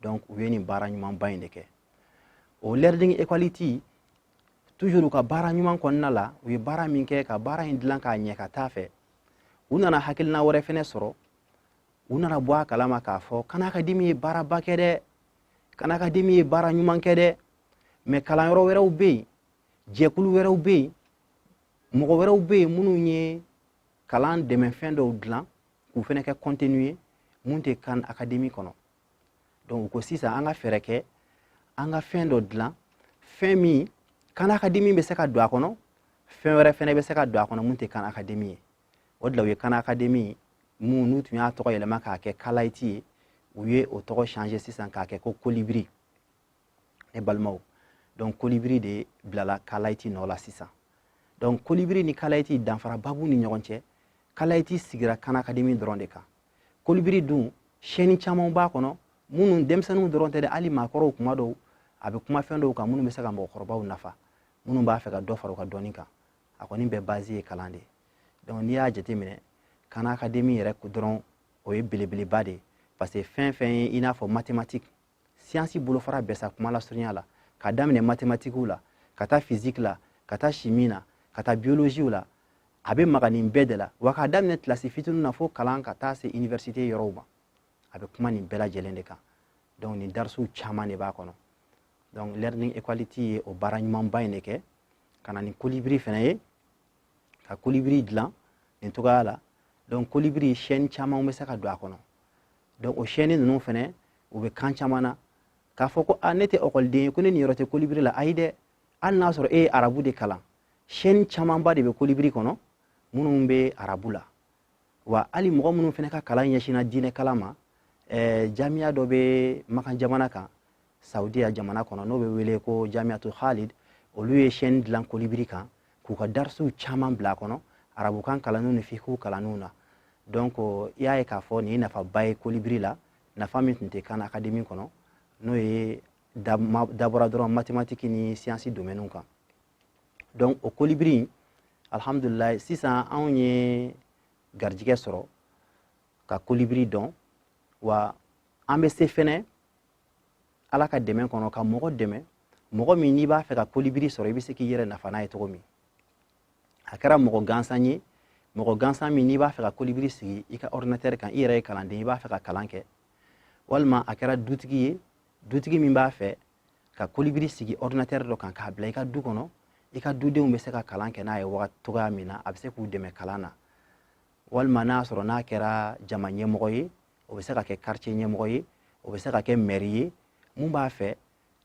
donc u ye nin baara ɲumanba in de kɛ o learning equality toujours u ka baara ɲuman kɔnɔna la u ye baara min kɛ ka baara in dilan k'a ɲɛ ka taa fɛ u nana hakilina wɛrɛ fɛnɛ sɔrɔ u nana bɔ a kalama k'a fɔ kan akademi ye baaraba kɛ dɛ kan akademi ye baara ɲuman kɛ dɛ mais kalanyɔrɔ wɛrɛw bɛ yen jɛkulu wɛrɛw bɛ yen mɔgɔ wɛrɛw bɛ yen minnu ye kalan dɛmɛfɛn dɔw dilan k'u fana kɛ contenu ye mun tɛ kan akademi kɔnɔ donc u ko sisan an ka fɛɛrɛ kɛ an ka fɛn dɔ dilan fɛn min kan akademi bɛ se ka don a kɔnɔ fɛn wɛrɛ fana bɛ se ka don a kɔnɔ mun tɛ kan akademi ye o de la u ye kan akademi mun n'u tun y'a tɔgɔ yɛlɛma k'a kɛ kalayiti ye u ye o tɔgɔ changé sisan k'a kɛ ko kolibiri ne balimaw donc kolibiri de bilala kalayiti nɔ la sisan donc kolibiri ni kalayiti danfaraba b'u ni ɲɔgɔn cɛ kalayiti sigira kan akademi dɔrɔn de kan kolibiri dun chaîne camanw b'a kɔnɔ minnu denmisɛnninw dɔrɔn tɛ dɛ hali maakɔrɔw tuma dɔw a bɛ kuma fɛn dɔw kan minnu bɛ se ka mɔgɔkɔrɔbaw nafa minnu b'a fɛ ka dɔ fara u ka dɔnni kan a kɔni bɛɛ bazi ye kalan de ye donc n'i y'a jateminɛ kan akademi yɛrɛ dɔrɔn o ye belebeleba de ye parce que fɛn fɛn ye i n'a fɔ mathématique siyansi bolofara bɛɛ sa kuma lasurunya la ka daminɛ matematikiw la ka taa fiziki la ka taa simi na ka taa biyoloziw la a bɛ maga nin bɛɛ de la wa k'a daminɛ kilasi fitinin na fo kalan ka taa se iniversite yɔrɔw ma a bɛ kuma nin bɛɛ lajɛlen de kan donc nin darisiw caman de b'a kɔnɔ donc learning equality ye o baara ɲumanba in de kɛ ka na ni kolibiri fana ye ka kolibiri dilan nin cogoya la donc kolibiri chaîne caman bɛ se ka don a kɔnɔ donc o chaîne ninnu fana u bɛ kan caman na k'a fɔ ko a ne tɛ ekɔliden ye ko ne niyɔrɔ tɛ kolibiri la ayi dɛ hali n'a sɔrɔ e ye arabu de kalan chaîne camanba de bɛ kolibiri kɔnɔ minnu bɛ arabu la wa hali mɔgɔ minnu fana ka kalan ɲɛsinna diinɛ kalan ma ɛɛ jamiya dɔ bɛ makan jamana kan saudiya jamana kɔnɔ n'o bɛ wele ko jamiatu khalid olu ye chaîne dilan kolibiri kan k'u ka darisiw caman bila a kɔnɔ arabukan kalanniw ni fikiw kalanniw na donc i y'a ye k'a fɔ nin ye nafaba ye kolibiri la nafa min tun tɛ kan akademi kɔnɔ n'o ye dabɔra dɔrɔn matematiki ni siyansi domɛniw kan donc o kolibiri in alhamdulilayi sisan anw ye garijigɛ sɔrɔ ka kolibiri dɔn wa an bɛ se fɛnɛ ala ka dɛmɛ kɔnɔ ka mɔgɔ dɛmɛ mɔgɔ min n'i b'a fɛ ka kolibiri sɔrɔ i bɛ se k'i yɛrɛ nafa n'a ye cogo min a kɛra mɔgɔ gansan ye mɔgɔ gansan min n'i b'a fɛ ka kolibiri sigi i ka ordinatɛri kan i yɛrɛ ye kalanden i b'a fɛ ka kalan kɛ walima a kɛra dutigi ye dutigi min b'a fɛ ka kolibiri sigi ordinatɛri dɔ kan k'a bila i ka du kɔnɔ i ka dudenw bɛ se ka kalan kɛ n'a ye waga cogoya min na a bɛ se k'u dɛmɛ kalan na walima n'a sɔrɔ n'a kɛra jama ɲɛmɔgɔ ye o bɛ se ka kɛ quartier ɲɛmɔgɔ ye o bɛ se ka kɛ mɛri ye mun b'a fɛ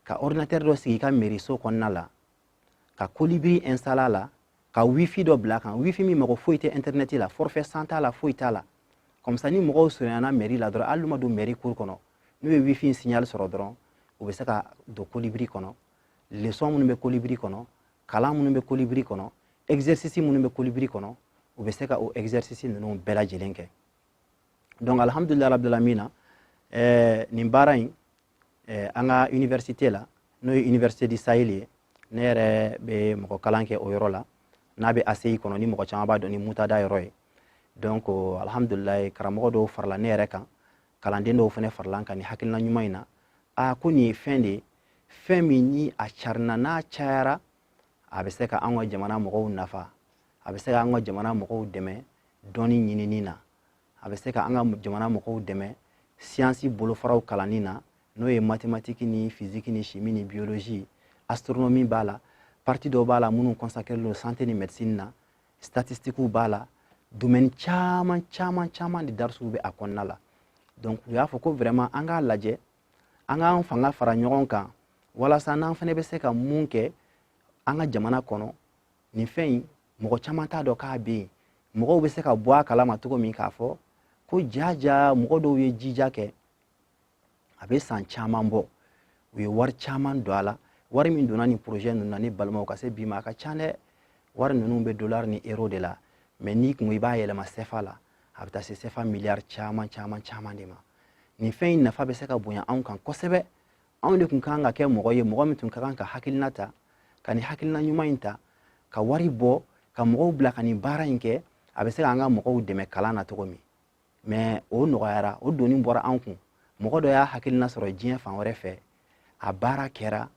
ka ordinatɛri dɔ sigi i ka mɛriso kɔnɔna la ka kolibiri installer a la ka wifi dɔ bila a kan wifi min mago foyi tɛ intɛrnɛti la forfait san t'a la foyi t'a la comme ça ni mɔgɔw surunyana mɛri la dɔrɔn hali n'u ma don mɛri kuru kɔnɔ n'u ye wifi in signal sɔrɔ dɔrɔn u bɛ se ka don kolibiri kɔnɔ leçon minnu bɛ kolibiri kɔnɔ kalan minnu bɛ kolibiri kɔnɔ exercice minnu bɛ kolibiri kɔnɔ u bɛ se ka o exercice ninnu bɛɛ lajɛlen kɛ donc alhamdulillah rabbil alamina eh, nin baara in eh, an ka université la n'o ye université du sahel ye ne yɛrɛ bɛ mɔgɔ kalan kɛ o yɔrɔ la n'a bɛ ACI kɔnɔ ni mɔgɔ caman b'a dɔn ni muntada yɔrɔ ye donc alhamdulillah karamɔgɔ dɔw farala ne yɛrɛ kan kalanden dɔw fana farala a kan nin hakilina ɲuman in na a ko nin ye fɛn de ye fɛn min ni a carina n'a cayara a bɛ se ka an ka jamana mɔgɔw nafa a bɛ se ka an ka jamana mɔgɔw dɛmɛ dɔnni ɲinini na a bɛ se ka an ka jamana mɔgɔw dɛmɛ siyansi bolofaraw kalanni na n'o ye matematiki ni fiziki ni simi ni biyolozi astronomi b'a la parti dɔw b'a la minnu consacrélen don santé ni médecine na statistikiw b'a la domaine caman caman caman de darisiw bɛ a kɔnɔna la donc u y'a fɔ ko vraiment an k'a lajɛ an k'an fanga fara ɲɔgɔn kan walasa n'an fana bɛ se ka mun kɛ an ka jamana kɔnɔ nin fɛn in mɔgɔ caman t'a dɔn k'a bɛ yen mɔgɔw bɛ se ka bɔ a kalama cogo min k'a fɔ ko jaja mɔgɔ dɔw ye jija kɛ a bɛ san caman bɔ u ye wari caman don a la wari min donna nin projet ninnu na ne balimaw ka se bi ma a ka ca dɛ wari ninnu bɛ dollar ni euro de la mɛ n'i ko i b'a yɛlɛma sɛfa la a bɛ taa se sɛfa miliyari caman caman caman de ma nin fɛn in nafa bɛ se ka bonya anw kan kosɛbɛ anw de tun ka kan ka kɛ mɔgɔ ye mɔgɔ min tun ka kan ka hakilina ta ka nin hakilina ɲuman in ta ka wari bɔ ka mɔgɔw bila ka nin baara in kɛ a bɛ se k'an ka mɔgɔw dɛmɛ kalan na cogo min mɛ o nɔgɔyara o doni bɔra an kun mɔgɔ dɔ y'a hakilina sɔrɔ diɲɛ fan wɛrɛ fɛ a baara kɛra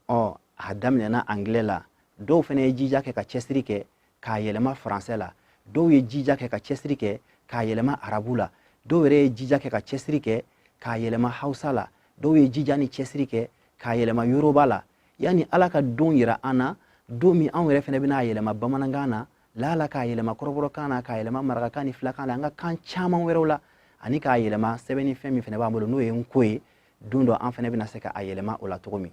ɔ a daminɛna angilɛ la dɔw fana ye jija kɛ ka cɛsiri kɛ k'a yɛlɛma faransɛ la dɔw ye jija kɛ ka cɛsiri kɛ k'a yɛlɛma arabu la dɔw yɛrɛ ye jija kɛ ka cɛsiri kɛ k'a yɛlɛma hausa la dɔw ye jija ni cɛsiri kɛ k'a yɛlɛma yoroba la yanni ala ka don yira an na don min anw yɛrɛ fana bɛna a yɛlɛma bamanankan na laala k'a yɛlɛma kɔrɔbɔrɔkan na k'a yɛlɛma marakakan ni filakan na an ka kan caman wɛrɛw la ani k'a yɛlɛma sɛbɛnni fɛn min fana b'an bolo n'o ye nko ye don dɔ an fana bɛna se ka a yɛlɛma o la cogo min